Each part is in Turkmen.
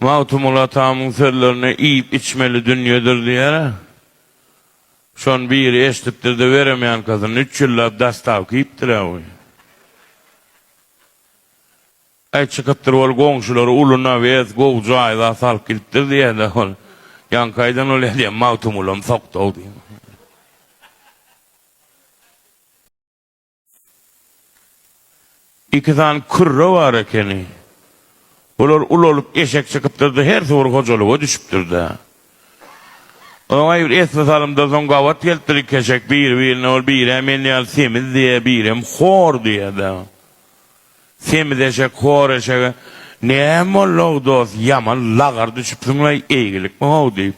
Magtymguly atamyň sözlerini iýip-içmeli dünýedir diýer-ä. Şony biri eşidipdir-de beremýänkasyny üç ýyllap dastawka iýipdir-ä bu. Äý çykypdyr ol goňşulary uly nawez, gowy jaýzat alyp gidipdir diýer-de ol. Ýaňkaýdan ol edýän Magtymgulam sokdow diýip. Iki sany kürre bar ekeni. Bular ulalyp eşek çykypdyr-da, hersi bir hojalyga düşüpdir-de. Oňa bir esli salymdan soň gabat gelipdir iki eşek biri-birine, ol biri-ä men ýaly semiz diýýär, birem hor diýýär-de. Semiz eşek hor eşege, Näme boldy-ow, dost, ýaman lagar düşüpsiň-leý, eýgilikmi-how? diýip.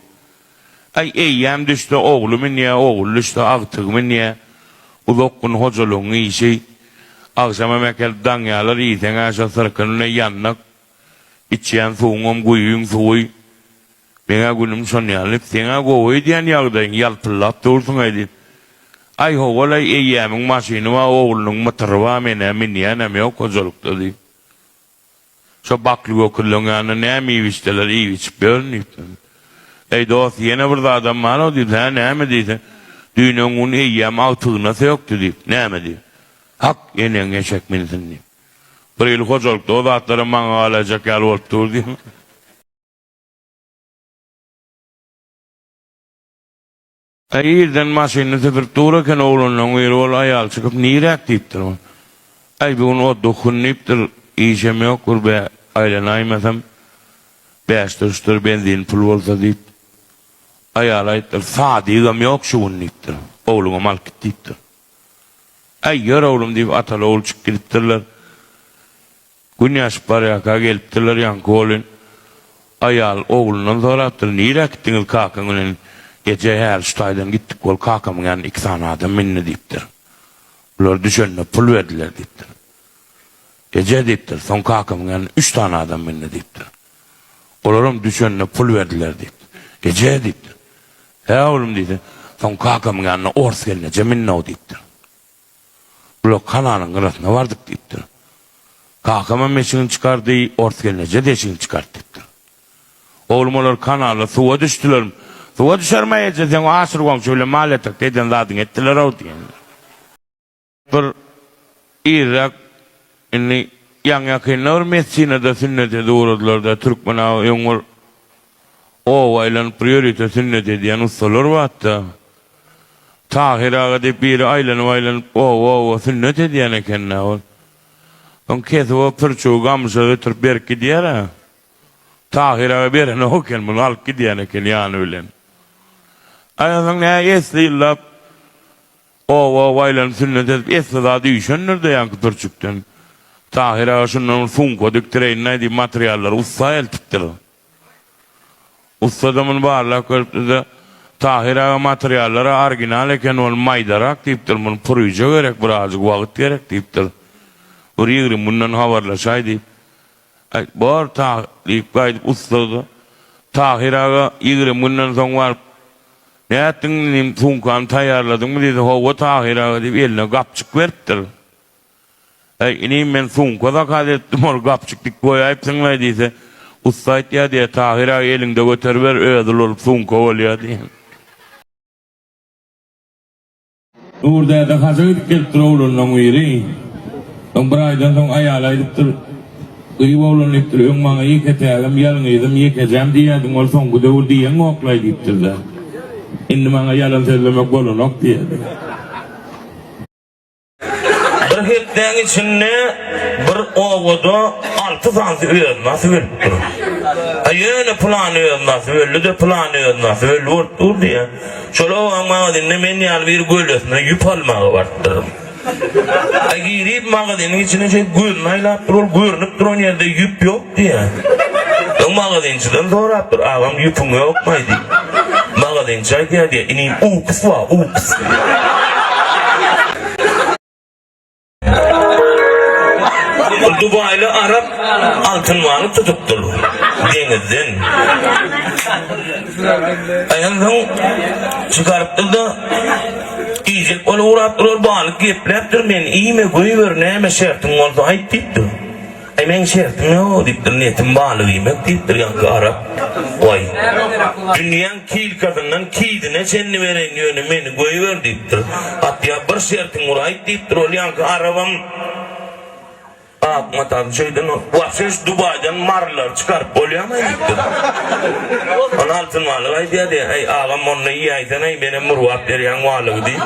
Aý, eýýäm düşse, ogly münýä, ogly düşse, agtygy münýä. Uzak gün hojalygyň işi. Agşama mekel daň ýalar, iýseň-ä şo syrkyny-leý ýandak. Içýän suwuňam guýyň suwy. Meň-ä günüm şonýaly, seň-ä gowy öýdýän ýagdaýyň, ýalpyldap dursuň-aý diýip. Aý, ho-ol-aý, eýýämiň maşyny bar, oglunyň mytyry bar, men-ä münýänem ýok hojalykda diýip. Şo bakly göküzleň ýanynda näme iýip-içseler, iýip-içip ýörün diýip. Eý, dost, ýene bir zadam bar-ow diýip. Hä, näme diýse. Düýn-öňňun eýýäm agtygyna sökdi diýip. Näme diýip. Hak, eneň eşek minsin diýip. Bir ýyl hojalykda o zatlaram maňa galaýjak ýaly bolup dur diýip. Eý irden maşynyny süpürip dur eken oglanlaň biri ol aýal çykyp niräk diýipdir ol. Aý bu gün otduk hyn diýipdir işem ýok bir bä aýlanaýmasam bäşdir üçdir benzin pul bolsa diýip. Aýal aýypdyr sadygam ýok şu gün diýipdir. Ogluňam alyp git diýipdir. Aý ýör oglum diýip ataly ogul çykyp gidipdirler. Gün ýaşyp barýarka gelipdirler, ýaňky golin aýal oglundan sorapdyr, Nirä gitdiňiz kakaň bilen? Eje, häli şu taýdan gitdik, ol kakamyň ýanyna iki sany adam mindi diýipdir. Bular düşende pul berdiler diýipdir. Eje diýipdir, soň kakamyň ýanyna üç sany adam mindi diýipdir. Olaram düşende pul berdiler diýipdir. Eje diýipdir. Hä oglum diýse, soň kakamyň ýanyna ors gelneje mindi-ow diýipdir. Bular kanalyň gyrasyna bardyk diýipdir. Kakamam eşigini çykardy, ors gelneje-de eşigini çykart diýipdir. Oglum olar kanalda suwa düşdülerim. Suwa düşerem-aý eje, seň o Aşyr goňşy bilen mal ýatakda eden zadyňy etdiler-ow diýenler. Bir irräk indi ýaňy-ýakynda bir mesjine-de sünnete duradylar-da, türkmen aga öň bir Oba aýlanyp bir ýörite sünnet edýän ussalar batda. Tahyr aga diýip biri aýlanyp-aýlanyp oba-oba sünnet edýän eken-dä ol. Soň kesip o pürçügi gamşa göterip berip gidýär-ä. Tahyr aga berenok eken, muny alyp gidýän eken ýany bilen. Aýalyň nä esli ýyllap oba-oba aýlanyp sünnet edip esli zady üýşendir-de ýaňky pürçükden. Tahyr aga şundan bir sumka dikdireýin-aý diýip materiallary ussa eltipdir. Ussa domun barlap görüpdide Tahyr aga materiallary arginal eken ol maýdarak diýipdir muny puryja gerek bir azjyk wagyt gerek diýipdir bir ýigrim günden habarlaşaý diýip aýt bor Tahyr diýip gaýdyp ussada Tahyr aga ýigrim günden soň baryp nätdiň inim sumkany taýýarladyňmy diýdi howwa Tahyr aga diýip eline gapjyk beripdir Äý, inim, men sumka zakaz etdim, ol gapjyk dik goýaýypsyňlaý diýse, ussa aýtýar diýýär, Tahyr aga, eliňde göteriber, özi ulanyp sumka bolýar diýýär. Nur däde haja gidip gelipdir, oglanlaryň biri. Soň bir aýdan soň aýaly aýdypdyr, Gyýw oglan diýipdir, öň maňa ýeketägim, ýalňyzym, ýekejäm diýýärdiň, ol soňky döwür diýeňoklaý diýipdir-de. Indi maňa ýalan sözlemek bolanok diýýärdi. Bir hepdäň içinde bir obada alty sany öznasy bölüp dur. A ýöne plan öznasy böldi-de plan öznasy böldi bolup dur diýýär. Şol obaň magazynynda men ýaly bir gölesine ýüp almaga barypdyryn. A girip magazynyň içine şeý gözüni aýlap dur, ol görnüp duran ýerde ýüp ýok. Diýýä. Soň magazynçydan sorapdyr, Agam ýüpüň ýokmaý diýip. Magazynçy aýdýar diýýä, Inim uks bar, uks. Bir dubaýly arap altyn balyk tutupdyr deňizden. Aýan soň çykarypdyr-da, iýjek bolup ugrapdyr, ol balyk gepläpdir, Meni iýme, göýber, näme şertiň bolsa aýt diýipdir. Äý, meň şertim-ä-o, diýipdir, niýetim balyk iýmek, diýipdir ýaňky arap. Goý, dünýäň kilkasyndan kidine çenli bereýin, ýöne meni goýber, diýipdir. Atja bir şertiň ur, aýt, diýipdir, ol ýaňky arabam ak matasyny şeýden ur. Wapşe şu Dubaýdan marylary çykaryp bolýarmy-aý, diýipdir. Ony Altyn balyk aýdýar, diýýär. Äý, agam, onda iýäýsen-aý, menem urgap berýäň balygy, diýip.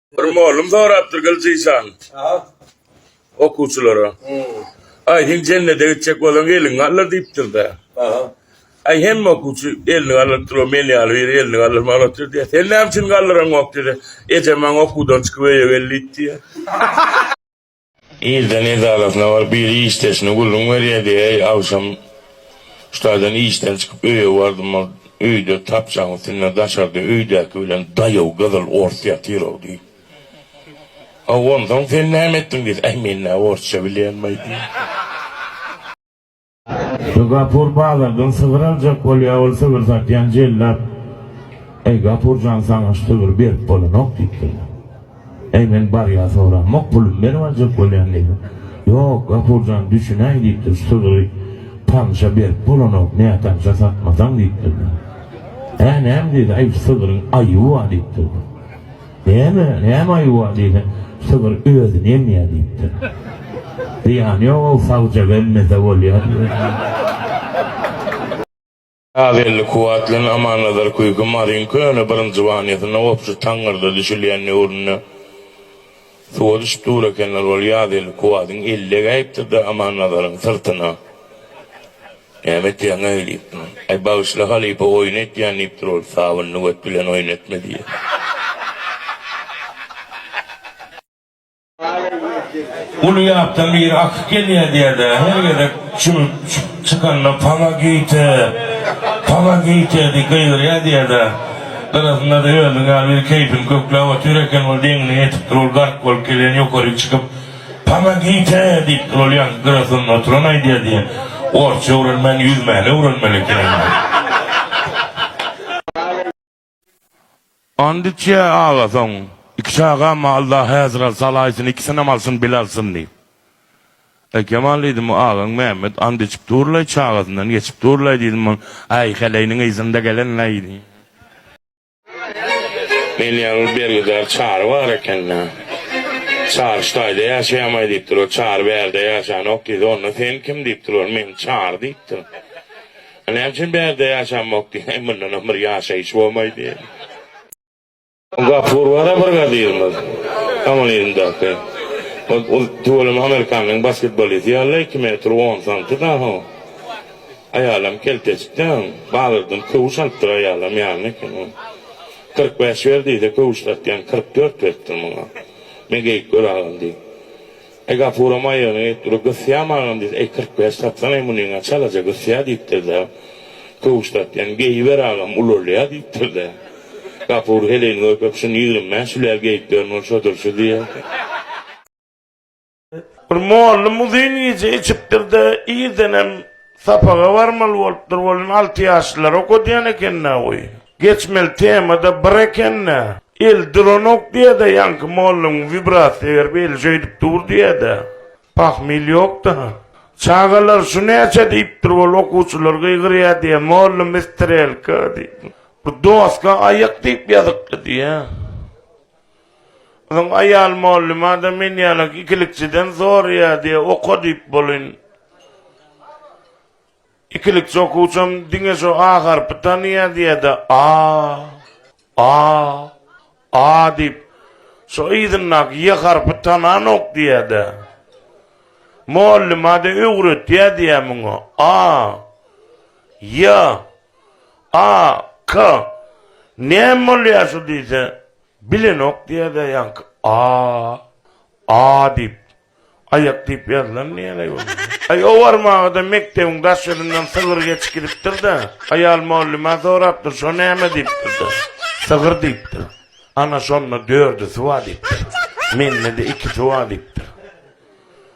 Bir mollum sorapdyr Gylyjyşan. Aha. Okuwçylara. Hmm. Ay sen cennete gitjek bolan gelin gallar diýipdir de. Aha. Ay hem okuwçy elini gallyp dur, men ýaly bir elini gallyp malatdyr diýär. Sen näme üçin gallyraň ok diýdi. Ejem maň okuwdan çykyp öýe gel diýdi diýär. Irden edarasyna baryp biri işdeşine gürrüň berýärdi, Äý, agşam ştadan işden çykyp öýe bardym, ol öýde tapjaň üstünde daşarda öýdäki bilen daýaw gyzyl ors ýatyr-ow diýip. Hawa, onsoň sen näme etdiň diýse, Äý, men nä orsça bilýänim-aý diýip. Şu Gapur bazardan sygyr aljak bolýa ol sygyr satýan jellap Eý Gapurjan saňa şu sygyry berip bolanok diýipdir. Eý men barýa soramok pulumy berip aljak bolýan diýdi. Ýok Gapurjan düşünäý diýipdir şu sygyry tanşa berip bolanok nätanşa satmasaň diýipdir. Hä näme diýdi aý şu sygyryň aýyby bar diýipdir. Näme, näme aýuwa diýsem, sygyr özüni emýär diýipdir. Zyýany ýog-ow, sagjak emmese bolýar diýipdir. Kazyýelli Kuwwat bilen Amannazar Küýki Maryň köne birinjibanýasynda obşy taňňyrda düşülýän döwründe suwa düşüp dur ekenler. Ol Ýazýelli Kuwwadyň eli degäýipdir-de Amannazaryň syrtyna. Näme etýäň äý diýipdim. Äý bagyşla halypa oýun etýän diýipdir ol sabynly göt bilen oýun etme diýýär. Uly ýapdan biri akyp gelýär diýerdi-ä her gezek çümüp çykanda Pomogite! Pomogite! diýip gygyrýar diýerdi-ä. Gyrasynda-da özüň ýaly biri keýpini kökläp otyr eken ol deňine ýetipdir ol gark bolup gelýän ýokaryk çykyp Pomogite diýip duralýan grafyň oturan aýdýar diýen orsça öwrenmän ýüzmäni öwrenmeli ekeniň. Andiç ýa aga soň iki çagamy alda häzir al salaýsyn ikisinem alsyn bil alsyn diýip. Äý Kemal diýdim agaň Mämmet andiçik durlaý çagasyndan geçip durlaý diýdim ol äý heleýniň yzynda gelenleý diýip. Men ýaňy bergidar Çary bar ekeni. Çary ştaýda ýaşaýamaý diýipdir. Ol Çary bärde ýaşanok diýdi. Onda sen kim diýipdir. Ol men Çary diýipdir. A näme üçin bärde ýaşanmok diý. Heý mundanam bir ýaşaýyş bolmaý diýdi. Gapur bar-a bir gadyrymyz. Komunizmdäki. Ol tüweleme amerikanyň basketbolisti ýaly iki metr on santy dagy. Aýalam kelteçik däl, bazardan köwüş alypdyr aýalam ýaly eken ol. Kyrk bäş ber diýse köwüş satýan kyrk dört beripdir muňa. Men geýip göragam diýip. Eý Gapuram aýagyna gelip dur gysýam agam diýse eý kyrk bäş satsana munyňa çalaja gysýa diýipdir-de. Köwüş satýan geýiber agam ulalýa diýipdir-de. Gapur heleýini görkep şuny ýigrimi bäş üläl geýip berin ol şodur şu diýer. Bir mollum uzyn gije içipdir-de, irdenem sapaga barmaly bolupdyr welin alty ýaşlylar okadýan eken-dä goý. Geçmeli tema-da bir eken-dä. Eli duranok diýe-de ýaňky mollum wibrasiýa berip eli şeýdip dur diýe-de. Pahmyl ýok-da. Çagalar şu näçe diýipdir weli okuwçylar gygyrýa diýe mollum istrelka diýip. Bir doska aýak diýip ýazykly diýe. Soň aýal molluma-da men ýalak ikilikçiden soraýardy, oka diýip bolun. Ikilikçi okuwçam diňe şo A harpy tanaýardy-da, A, A, A diýip, şo yzyndaky Y harpy tananok diýýärdi. Molluma-da öwretýärdi-ä muňa, A, Y, A, K. Näme bolýar şu diýse, Bilenok diýerler ýaňky a, a diýip. Aýak diýip ýazylan diýen aý ony. Aý owarmagada mekdebiň daş ýüzünden sygyr geçip gidipdir-de, aýal mugallymä sorapdyr, şo näme diýipdir-de, sygyr diýipdir. Ana şonda dördüsi bar diýipdir. Mende-de ikisi bar diýipdir.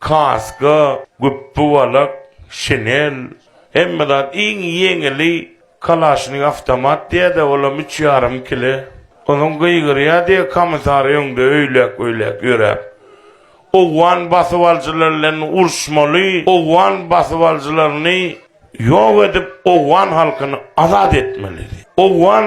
Kaska, güpbi-walak, şinel, hemme zat, iň ýeňili kalaşnik awtomat diýýär-de, olam üç ýarym kile. Ozüň gygyrýar diýe komissar öňde öýläk-öýläk ýöräp, owgan basybaljylary bilen uruşmaly, owgan basybaljylaryny ýok edip, owgan halkyny azat etmeli diýip, owgan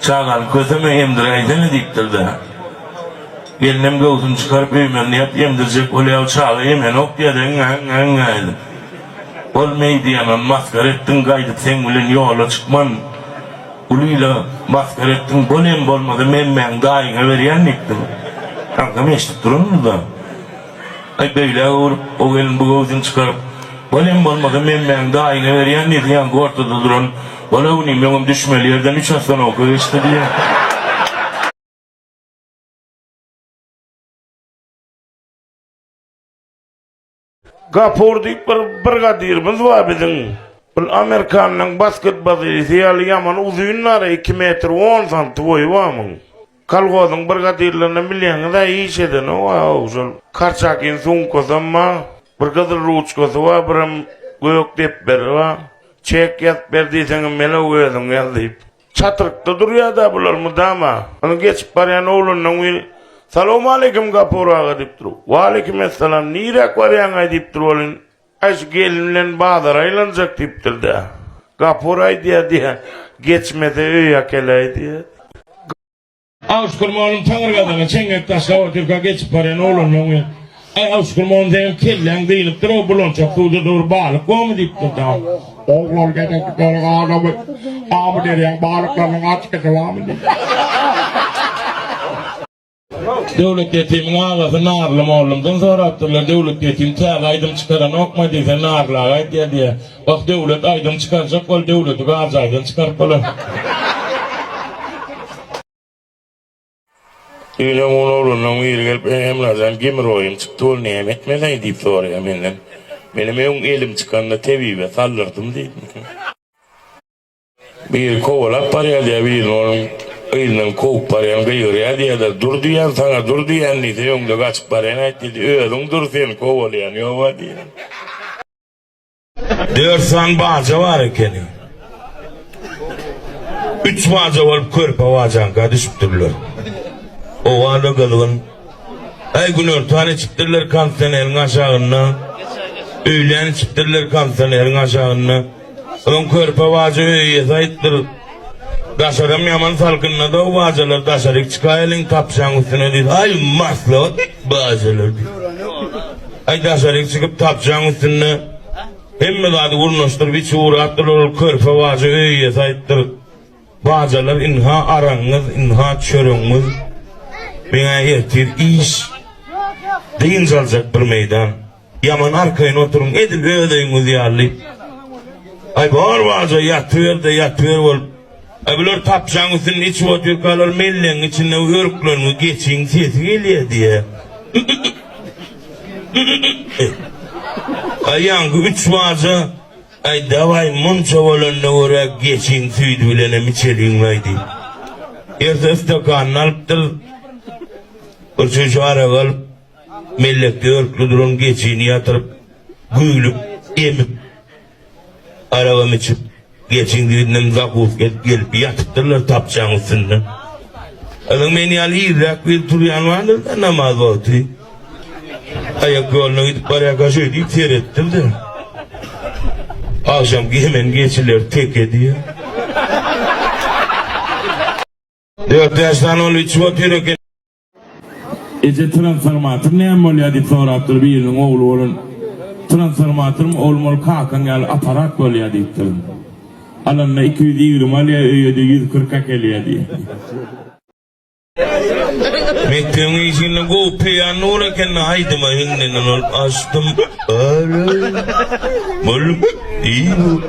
Çagam, köseme emdiräýsene, diýipdir-de, gelnem göwsüni çykaryp öýmendäp emdirjek bolýar, çaga emenok diýýär, äňňä-äňňä edip. Ol meý diýýän, ony masgara etdiň, gaýdyp seň bilen ýola çykman, uly ile masgara etdiň, bol hem bolmasa memmäňi daýyňa berýän diýipdir. Kankam eşidip durandyr-da. Aý, beýle-ä bolup, o gelin bu göwsüni çykaryp, Bolem bolmasa Memmäň daýyna berýän diýse, ýaňky ortada duran Bol-a bu nim öňem düşmeli ýerden üç astonowka geçdi diýýär. Gapur diýip bir brigadyrymyz bar biziň. Ol Amerikanyň basketbazysy ýaly ýaman uzyn-a-re, iki metr on santy boýy bar muň. Kolhozyň brigadyrlaryna bilýäňiz-ä iş edeni o-ow, şol Korçakyň sumkasam bar, bir gyzyl ruçkasy bar, birem gök depderi bar. Çek ýazyp ber diýseňem melew özüň ýaz diýip. Çatrykda durýa-da bular mydama. Ony geçip barýan oglanlaň biri, Salowmaleýkim Gapur aga diýipdir. Waleýkimessalam, niräk barýaň-aý diýipdir welin, Aýş gelin bilen bazara aýlanjak diýipdir-dä. Gapur aýdýar diýýä, Geçmese öýe äkeläý diýýär. Awşukur mollum taňyrgazaga çeňňek taşlap otyrka geçip barýan oglanlaň bilen, Aý, Awşukur mollum, seniň kelläň dynypdyr-ow, bulançak suwda dur, balyk bormy? diýipdir-dä. Ogul, ol gezeňki döre adamy, Amuderyýaň balyklarynyň açkysy barmy? diýipdir. Döwlet ýetimiň agasy Narly mollumdan sorapdyrlar, Döwlet ýetim täze aýdym çykaranokma diýse, Narly aga aýdýar diýýär. Wah, Döwlet aýdym çykarjak bol, Döwleti garjaýdan çykaryp bolar. Düýn öň oglanlaryň biri gelip, Emrajan gemroýum çykdy, ol näme etmeli diýip soraýar menden. Menem öň elim çykanda tebibe saldyrdym diýdim. Biri kowalap barýar diýýär, birini onuň yzyndan kowup barýan gygyrýar diýýärler. Dur diýýän, saňa dur diýýän diýse, öňde gaçyp barýan aýt diýdi. Özüň dur, seni kowalaýan ýoga diýýär. Dört sany baja bar ekeni. Üç baja bolup körpe bajaňka düşüpdirler. Oba-da gyzgyn. Aý, günortan içipdirler kondisioneriň aşagynda. Öýlän içipdirler kondisioneriň aşagynda. Öň körpe bajy öý iýesi aýypdyr. Daşaram ýaman salkynlady-ow bajalar, daşaryk çykaýalyň tapşaň üstüne diýdi. Aý, maslahat bajalar diýdi. Aý, daşaryk çykyp tapşaň üstünde hemme zady gurnaşdyryp içi gurapdyrlar, ol körpe bajy öý iýesi aýypdyr. Bajalar, ynha aragyňyz, ynha çöregiňiz. Meň-ä ertir iş, dynç aljak bir meýdan. Ýaman arkaýyn oturyň, edil öz öýüňiz ýaly. Aý, bor bolsa ýatyber-de, ýatyber bolup. Aý, bular tapjaň üstünde içip otyrkalar mellegiň içinde örkleriňi geçiň, sesi gelýär diýýä. Aý, ýaňky üç baja, Aý, dawaý, munça bolanyna görä, geçiň, süýdi bilenem içeliň-laý diýip. Erse stakanyny alypdyr. Bir çüýşe arak alyp. Mellek dörtli duran geçini ýatyryp, güýlüp, emip, aragam içip, geçiň dibinden zakuska edip gelip ýatypdyrlar tapçaň üstünde. Yzyň men ýaly irräk gelip turýany bardyr-da, namaz wagty. Aýak ýoluna gidip barýarka şeý diýip seretdir-de, Agşam gemen geçiler teke diýýär. Dört-bäş sany ol içip otyr eken. Eje transformator näme bolýar diýip sorapdyr biriniň ogly bolan. Transformatorum oglum ol kakaň ýaly aparat bolýar diýipdir. Alanda iki ýüz ýigrimi alýar öýede ýüz kyrk äkelýär diýýär. Mekdebiň işinde gowy peýan nur ekeni aýdyma hiňlenen ol açdym aýlaýyn myllyk diýip.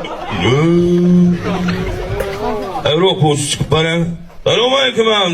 Her okuwçy çykyp barýar. Salowmaleýkim agam.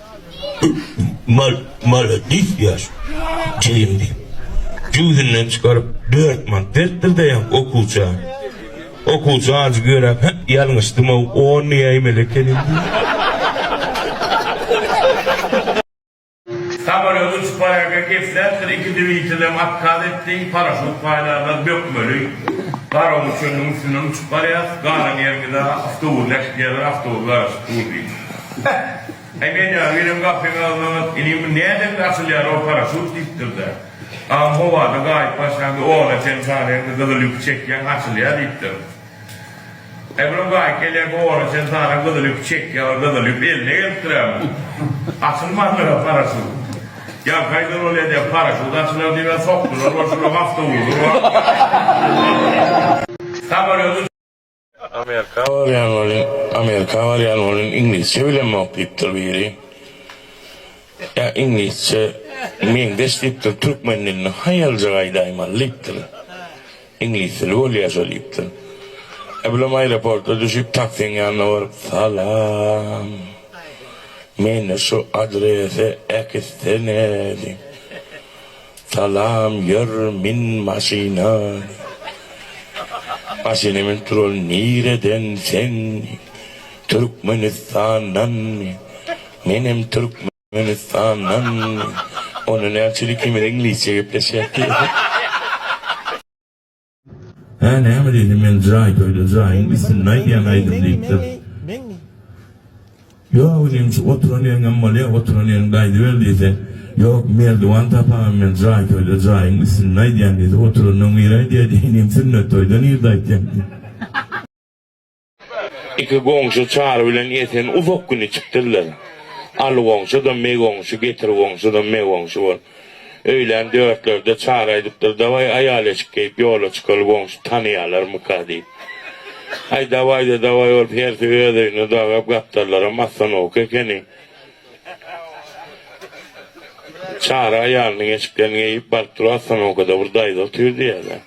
Mal, maladis ýaş. Jigim diýip, jübüsinden çykaryp, dört manat beripdir-de ýa okuwça. Okuwça ajy göräp, Hä, ýalňyşdym-ow, on näýmeli ekenim diýip. Samolýot uçup barýarka gepläpdir, iki dwitelem otkaz etdi, paraşut paýlarlar bökmeli. Garagum çölüniň üstünden uçup barýas, galan ýeriňiz-ä awtobusy äkitýärler, awtobus garaşyp dur diýip. Beh! Äý men ýa welin gapyň agzyna Ine bu nädende açylýar o paraşut diýipdir-de. Aň howada gaýyp başlaňda oňa çen saraýaňda gyzyl ýüpi çekýäň açylýar diýipdir. Äý bilen gaýyk gelýärkä oňa çen saraň gyzyl ýüpi çekýär ol gyzyl ýüp eline gelipdir-ä açylmandyr-a paraşut. Ýa gaýdan ol edýär paraşut açylar diýibä sokdular bolşy bir awtowuzy. Samalýot uçýar. Amerika barýan welin, Amerika barýan welin iňlisçe bilemok diýipdir biri. Ýa iňlisçe meňzeş diýipdir, türkmen dilini haýaljak aýdaýmaly diýipdir. Iňlis dili bolýa-şo diýipdir. Eblem aeroporta düşüp, taksiň ýanyna baryp, Salam. Meni şu adrese äkitsene diýip. Salam ýör min maşyna. Maşyna minip duran nireden sen Türkmenistandan menem Türkmenistandan onda näçülik ikimiz iňlisçe gepleşýäk diýesin. Hä näme diýdi men jaý toýda jaýyň üstünde aýdýan aýdym diýipdir. Ýok inim şu oturan ýeriňem bolýa oturan ýeriňde aýdyber diýse ýok merdiwan tapamam men jaý toýda jaýyň üstünde aýdýan diýse oturanda nir aýdýa diýdi inim sünnet toýda nirde aýtýaň diýdi. Iki goňşy Çary bilen Esen uzak gün içipdirler. Aly goňşy-da Me goňşy, Getir goňşy-da Me goňşy bolup. Öýlän dörtlerde Çary aýdypdyr, Dawaý, aýal-eşik geýip ýola çykaly, goňşy tanaýalarmyka diýip. Aý, dawaý-da dawaý bolup, hersi öz öýüne dagap, gapdallaram assanawuk ekeni. Çary aýalynyň eşiklerini geýip baryp duran ostanokada bir daýza otyr diýýärler.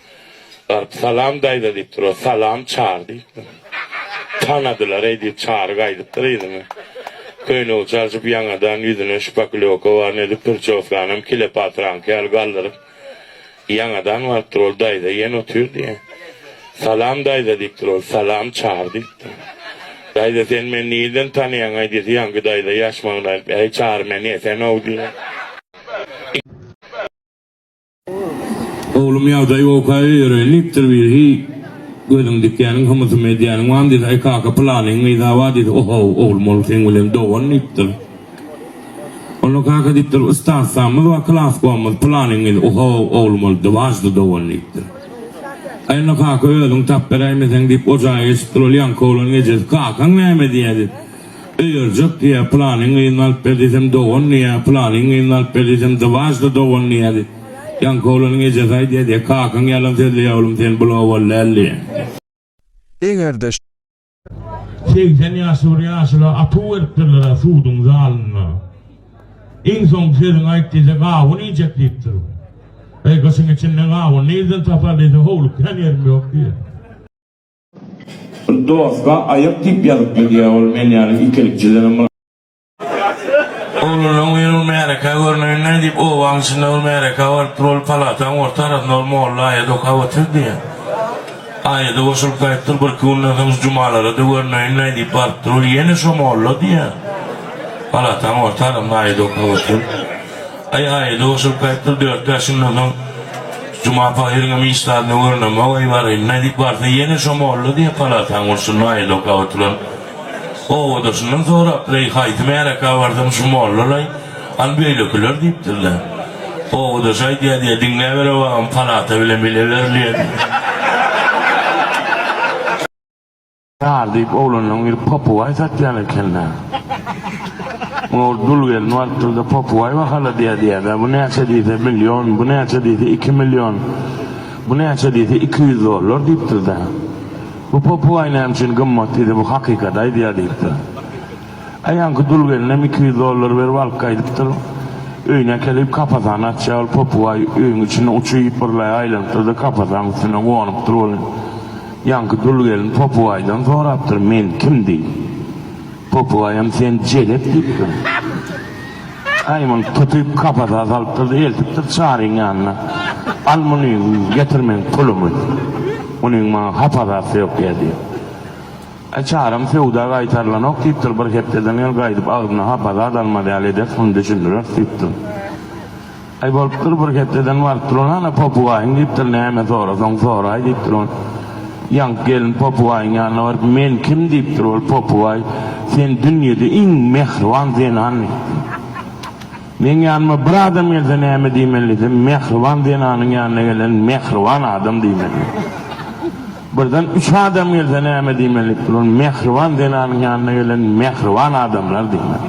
Baryp Salam daýza diýip duran. Salam Çary diýipdir. Tanadylar-eý diýip Çary gaýdypdyr yzyna. Köýnegi çalşyp ýaňadan ýüzüne şpaklýoka baryny edip prçoskanam kilepatyraňky ýaly galdyryp. Ýaňadan barypdyr, ol daýza ýene otyrdy. Salam, daýza diýipdir ol. Salam, Çary diýipdir. Daýza, sen meni nirden tanaýaň-aý diýse, ýaňky daýza ýaşmagynda aýdypdyr, Äý, Çary, men ýa sen-ow diýen. Oglum, ýagdaý bowka öýereýin diýipdir birisi. Gözüň dikýäniň, hymysym edýäniň barmy diýse, Äý, kaka, pylanyň gyzy-awa diýse, Oho, oglum, ol seň bilen dogan diýipdir. Onda kaka diýipdir, Ustaslamyz we klaskomyz planyňyz ohow oglum ol diwajdy dogan diýipdir. Aý onda kaka özüň tap beräýmeseň diýip o jaýa geçipdir. Ol ýaňky oglanyň ejesi, Kakaň näme diýýä diýip, Öýerjek diýýä, planyň gyzyny alyp ber diýsem dogan diýýä, planyň gyzyny alyp ber diýsem diwajdy dogan diýýä diýip, ýaňky oglanyň ejesi aýdýa diýýä, Kakaň ýalan sözleýä oglum sen bul owal däl diýýä. Eger-de Segsen ýaşly bir ýaşula atuw beripdirler-ä suduň zalynda. Iň soňky sözüňi aýt diýse, gawun iýjek diýipdir. Eý, gyşyň içinde gawun nirden tapar diýse, howlukýan ýerim ýok diýýär. Doska aýak diýip ýazypdyr diýýär ol men ýaly ikelikçilerem. Oglanlaň men ol märekä görneýin-dä, diýip, obanyň içinde bir märekä barypdyr. Ol palataň orta arasynda ol molla aýady okap otyrdy. Aýada goşulyp gaýypdyr. Birki günden soň şu Jumalara-da görneýin-dä, diýip barypdyr. Ol ýene şo molla diýýär. Palataň orta arasynda aýady okap otyr. Aý, aýada goşulyp gaýypdyr. Dört-bäş günden soň Juma pahyryňam iş zadynda görnemok-aý, baryň-da, diýip barsa, ýene şo molla diýýär. Palataň burçunda aýady okap oturan. Obadaşyndan sorapdyr-eý, haýsy märekä barsaň şu mollalaý, an beýlekiler diýipdirler. Obadaş aýdýa-diýýä, diňläbere agam, palata bilen bile berilýä diýýä. Ýar diýip oglanlaň biri popygaý satýan eken-dä. Muňa bir dul gelin barypdyr-da, Popygaý bahala diýýä-diýýä-dä, bu näçe diýse, million, bu näçe diýse, iki million, bu näçe diýse, iki ýüz dollar diýipdir-dä. Bu popugay näme üçin gymmat diýdi bu hakykaty aýdýar diýipdir. Aýanky dul gelinem iki ýüz dollar berip alyp gaýdypdyr. Öýüne äkelip kapasany açýar ol popugay öýüň içinde uçy ýypyrlaýa aýlanypdyrda kapasanyň üstüne gonup-dyr welin ýanky dul gelin popugaydan sorapdyr men kim diýip. Popugayam sen jelet diýipdir. Aý muny tutyp kapasa salypdyr-da eltipdir Çaryň ýanyna. Al muny, getir meň pulumy. Munyň maňa hapazasy ýok ýa diýip. Aý Çaram söwda gaýtarylanok diýipdir, bir hepdeden ýol gaýdyp agzyna hapaza dalmaz ýaly ederis, muny düşündireris diýipdir. Aý bolupdyr bir hepdeden barypdyr ol hana popugayň diýipdir näme sorasaň soraý diýipdir ol ýaňky gelin popugayň ýanyna baryp men kim diýipdir ol popugaý sen dünýede iň mähriban zenan diýipdir meň ýanyma bir adam gelse näme diýmeli diýsem mähriban zenanyň ýanyna gelen mähriban adam diýmeli birden üç adam gelse näme diýmeli diýipdir ol mähriban zenanyň ýanyna gelen mähriban adamlar diýmeli.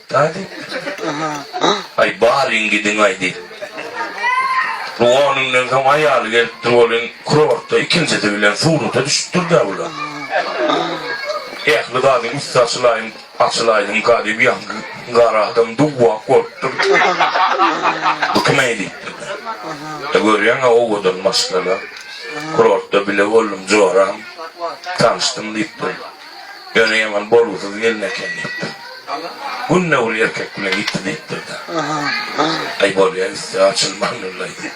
Nädip? Aý, baryň gidiň-aý, diýip. Bu onünden soň aýaly gelipdir welin, kurortda ikinjisi bilen surata düşüpdir-dä bular. Ähli zadyň üsti açylaýyn, açylaýsynka diýip, ýaňky gara adam duwwak bolupdyr. Bu kim-eý? diýipdir-de. E, görýäň-ä, owadan maşgala. Kurortda bile boldum, joram, tanyşdym, diýipdir. Ýöne ýaman bolgusyz gelin eken diýipdir. Günde ol erkek bilen ýitdi diýipdir-de. Aý, bolýa, üsti açylman ulaýdy.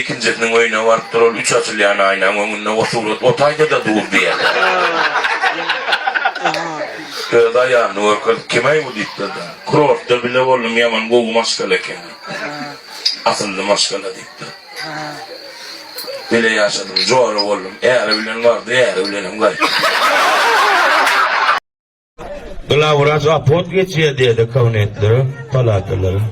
Ikinjisiniň öýüne barypdyr, ol üç açylýan aýnaň öňünde o surat otaýda-da dur diýen. Öz aýalyny görkezip, Kim-eý bu diýipdir-de. Kurortda bile boldum, ýaman gowy maşgala eken diýipdir. Asylly maşgala diýipdir. Bile ýaşadym, jola boldum. Äri bilen bardy, äri bilenem gaýtdy. Glawwraç aport geçýär diýdi kabinetlere, palatalara.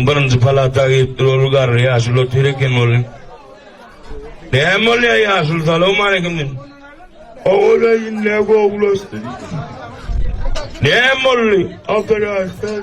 Birinji palata giripdir, ol garry ýaşuly otyr eken ol. Näme bolýar ýaşuly, salowmaleýkim diýdi. Ogulaý indi-ä gowulaşdy diýdi. Näme boldy? Operasiýa.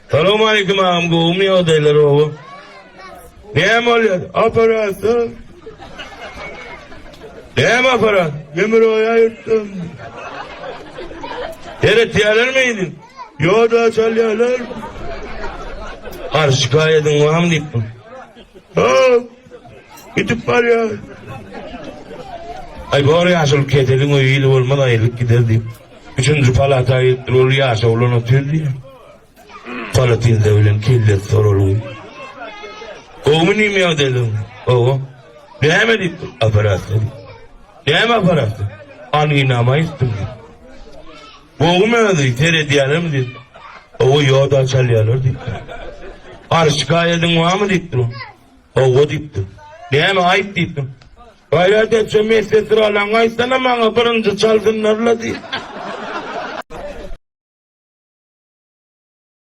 Salowmaleýkim agam gowumy ýagdaýlar oba näme bolýar aparatda näme aparat demir oýa ýyrtdym seretýärler meýdi ýoda çalýarlar arz şikaýatyň barmy diýipdim hop gidip barýar Ay bor yaşıl ketelin öýi ýyly bolmaz aýrylyp gider diýip. Üçünji palata ýetdi ol ýaşa ulan otur diýip. Kala tilde bilen kelle sorulgy. Gowmy nime ýagdaýlaň? Gowy. Näme diýip dur? Operasiýa diýip. Näme operasiýa? Anginama ýetdim diýip. Gowmy özi? Seredýärlermi diýip. Gowy ýoda çalýarlar diýip. Arşykaýadyň barmy diýip dur. Hawa diýipdim. Näme aýt diýipdim. Gaýrat etjä medsesralaň aýtsana maňa birinji çalsynlar-la diýip.